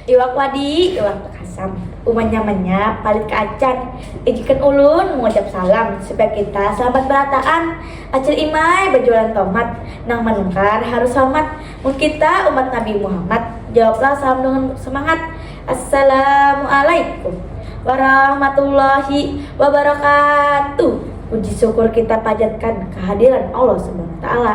Iwak wadi, iwak takasam. Umanya-manya palit ka acan. Ijikan ulun mangucap salam supaya kita salamat barataan. Acil Imai bajualan tomat, nang manukar harus salamat. Mun kita umat Nabi Muhammad, jawablah salam dengan semangat, Assalamualaikum warahmatullahi wabarakatuh. Puji syukur kita pajatkan kehadiran Allah Subhanahu wa Ta'ala.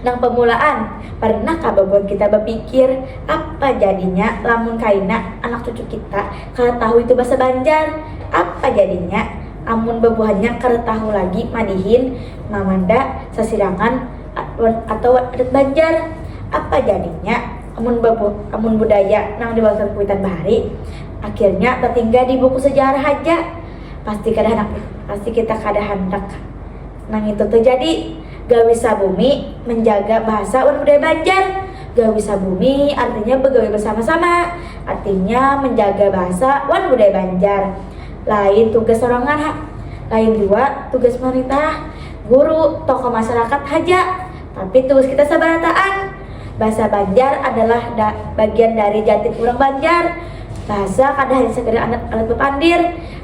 Nang pamulaan, parnah kah babuhan kita bapikir apa jadinya lamun kaina anak cucu kita kada tahu itu basa Banjar? Apa jadinya amun babuhannya kada tahu lagi madihin Mamanda, Sasirangan, atawa adat Banjar? Apa jadinya amun amun budaya nang diwariskan kuitan bahari akhirnya tatinggal di buku sejarah haja? Pasti kada handak pasti kita kada handak. Nangitu tu jadi, Gawi Sabumi menjaga bahasa wan budaya Banjar. Gawi Sabumi artinya begawi bersama-sama, artinya menjaga bahasa wan budaya Banjar. Lain tugas sorangan ha, lain jua tugas pemerintah, guru, tokoh masyarakat haja, tapi tugas kita sabarataan. Bahasa Banjar adalah da bagian dari jatit urang Banjar. Bahasa kada hanya sekadar alat bepandir.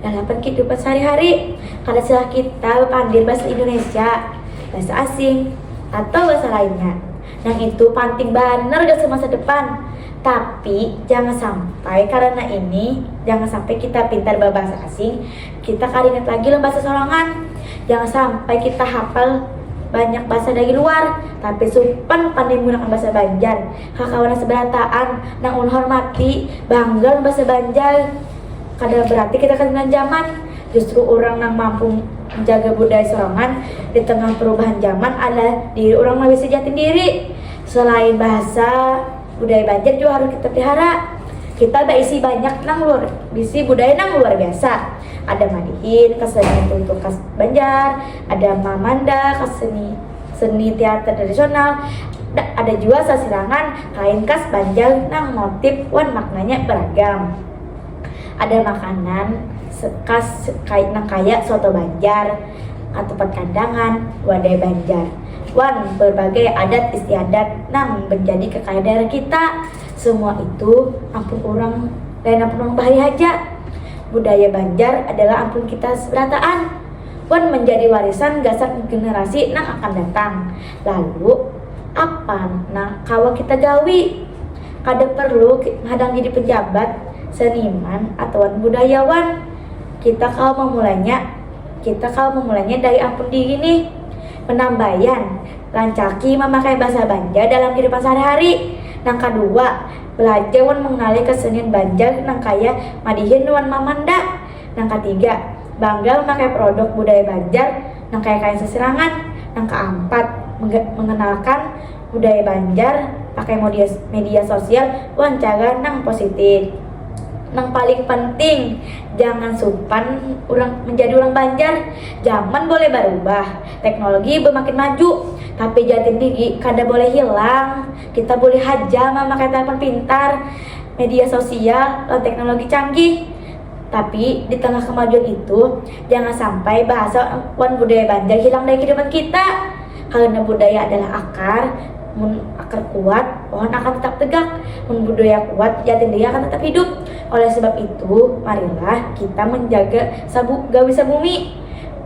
dalapan kidupan sahari-hari. Kada salah kita bapandir bahasa Indonesia, bahasa asing, atau bahasa lainnya. Nang itu panting banar gasan masa depan. Tapi, jangan sampai karana ini, jangan sampai kita pintar babahasa asing, kita kada ingat lagi lawan bahasa sorangan. Jangan sampai kita hapal banyak bahasa dari luar, tapi supan pandai menggunakan bahasa Banjar. Kakawanan sabarataan nang ulun hormati, bangga lawan bahasa Banjar. Kada berarti kita katinggalan zaman, justru urang nang mampu menjaga budaya sorangan di tengah perubahan zaman adalah diri urang nang bisi jati diri. Selain bahasa, budaya Banjar jua harus kita pelihara. Kita baisi banyak nang luar bisi budaya nang luar biasa, ada madihin kesenian tuntung khas Banjar, ada mamanda keseni seni teater tradisional, ada jua sasirangan kain khas Banjar nang motif wan maknanya beragam. Ada makanan khas nang kaya soto banjar, katupat kandangan, wadai banjar, wan berbagai adat istiadat nang menjadi kekayaan daerah kita. Semua itu ampun urang, lain ampun urang bahari haja. Budaya Banjar adalah ampun kita berataan wan menjadi warisan gasan generasi nang akan datang. Lalu, apa nang kawa kita gawi? Kada perlu hadang jadi pejabat, seniman, atawa budayawan. Kita kawa mamulainya kita kawa mamulainya dari ampun diri nih. Penambayan, rancaki mamakai bahasa Banjar dalam kehidupan sehari-hari. Nang kadua, belajar wan mengenali kesenian Banjar nang kaya madihin wan mamanda. Nang katiga, bangga memakai produk budaya Banjar nang kaya kain sasirangan. Nang kaampat, mengenalkan. budaya Banjar pakai media sosial wan cara nang positif. Nang paling penting, jangan supan urang menjadi urang Banjar. Zaman boleh barubah, teknologi bemakin maju, tapi jati diri kada boleh hilang. Kita boleh haja mamakai telepon pintar, media sosial, wan teknologi canggih, tapi di tengah kemajuan itu, jangan sampai bahasa wan budaya Banjar hilang dari kehidupan kita. Karena budaya adalah akar, mun akar kuat, pohon akan tetap tegak, mun budaya kuat, jatin diri akan tetap hidup. Oleh sebab itu, marilah kita manjaga sabu gawi sabumi,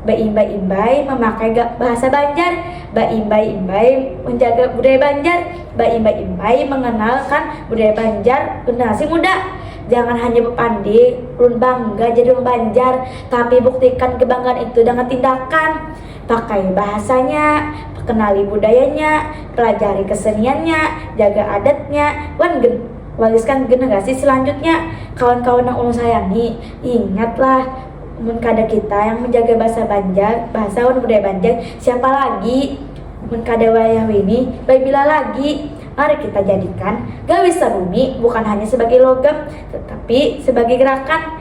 baimbai-imbai mamakai ga bahasa Banjar, baimbai-imbai manjaga budaya Banjar, baimbai-imbai manganalkan budaya Banjar ke generasi muda. Jangan hanya bapandi, ulun bangga jadi urang Banjar, tapi buktikan kebanggaan itu dangan tindakan. Pakai bahasanya, kenali budayanya, pelajari keseniannya, jaga adatnya, wan gen wariskan generasi selanjutnya. Kawan-kawan nang ulun sayangi, ingatlah, mun kada kita yang menjaga bahasa Banjar, bahasa wan budaya Banjar, siapa lagi? Mun kada wayah wini, bai bila lagi? Mari kita jadikan gawi saruni bukan hanya sebagai logam, tetapi sebagai gerakan.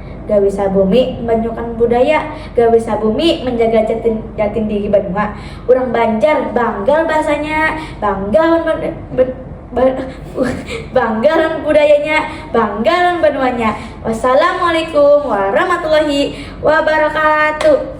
Gawi sabumi manyukan budaya, gawi sabumi manjaga jati jati diri banua. Urang Banjar bangga lawan bahasanya, bangga lawan bangga lawan budayanya, bangga lawan banuanya. Wassalamualaikum warahmatullahi wabarakatuh.